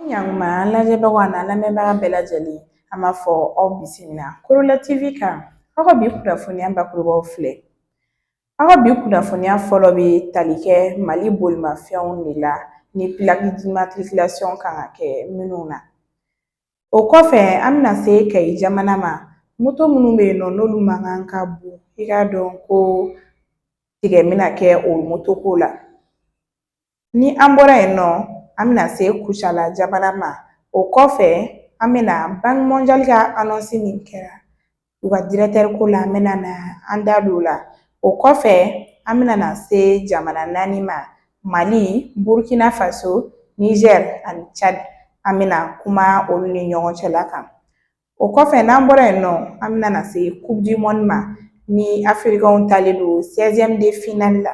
ɲankuma an lajɛbagaw ani an lamɛnbaga bɛɛ lajɛlen an b'a fɔ aw bisimila korola tv kan aw ka bi kunnafoniya bakurubaw filɛ aw ka bi kunnafoniya fɔlɔ bɛ tali kɛ mali bolimafɛnw de la ni pilaki dimatirikilasiɔn kan ka kɛ minnu na O kɔfɛ an bɛna se Kayi jamana ma moto minnu bɛ yen nɔ n'olu mankan ka bon i k'a dɔn ko tigɛ bɛna kɛ o moto ko la ni an bɔra yen nɔ an bɛna se Kucala jamana ma o kɔfɛ an bɛna Banki mɔnjali ka anɔnsi min kɛra u ka dirɛtɛri ko la an bɛna na an da don o la o kɔfɛ an bɛna na se jamana naani ma mali burukina faso nizɛri ani cadi an bɛna kuma olu ni ɲɔgɔn cɛla kan o kɔfɛ n'an bɔra yen nɔ an bɛna na se kupu di mɔni ma ni afirikanw talen don 16e de finali la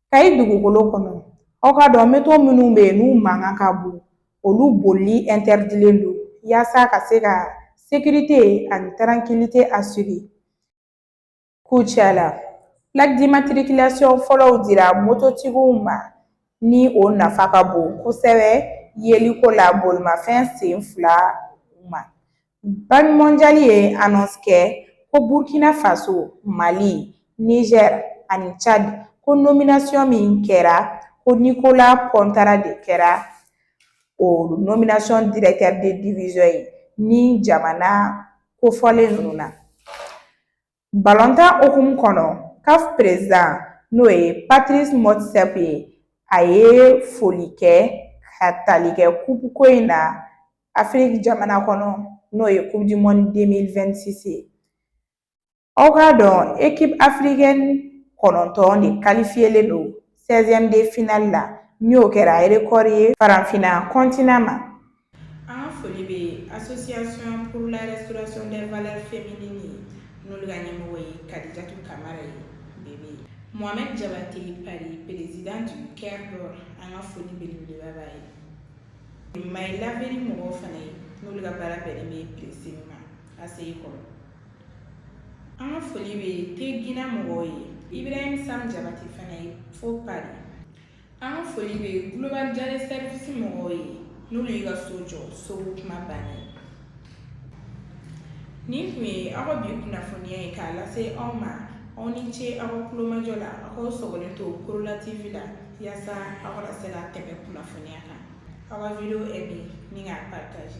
Kayi dugukolo kɔnɔ aw k'a dɔn moto minnu bɛ yen n'u mankan ka bon olu bolili ɛntɛridilen don yaasa ka se ka sekirite ani tarankilite asire Kucala pilaki dimatirikilasiɔn fɔlɔw dira mototigiw ma ni o nafa ka bon kosɛbɛ yeliko la bolimafɛn sen fila ma Banki mɔnjali ye anɔnsi kɛ ko Burukina Faso, Mali, Nizɛri ani Cadi ko nominasiyɔn min kɛra ko Nikola Pɔntara de kɛra o nominasiyɔn dirɛtɛri de divizɔn ye ni jamana kofɔlen ninnu na. Balontan hukumu kɔnɔ CAF perezidan n'o ye Patirisi Mɔtisɛpe ye a ye foli kɛ ka tali kɛ kupu ko in na Afiriki jamana kɔnɔ n'o ye kupu di mɔni 2026 ye aw k'a dɔn ekipu afirikɛni kɔnɔntɔn de kalifiyelen don 16e de finali la n'o kɛra rekɔri ye faranfina kɔntinan ma An ka foli bɛ association pour la restauration des valeurs féminines ye n'olu ka ɲɛmɔgɔ ye Kadijatu Kamara ye Bebe Mohamed Jabate Pari président du Cœur d'Or an ka foli belebeleba b'a ye My Laverie mɔgɔw fana ye n'olu ka baara bɛnnen bɛ pressing ma ACI kɔnɔ an ka foli bɛ Tegina mɔgɔw ye Ibrahim Sam Jabate fana ye fo Pari an ka foli bɛ global jare service mɔgɔw ye n'olu y'i ka so jɔ so ko kuma bannen nin tun ye aw ka bi kunnafoniya ye k'a lase aw ma aw ni ce aw ka tulomajɔ la aw k'aw sɔgɔlen to korola tv la yaasa aw kana se ka tɛmɛ kunnafoniya kan aw ka video aimer ni k'a partage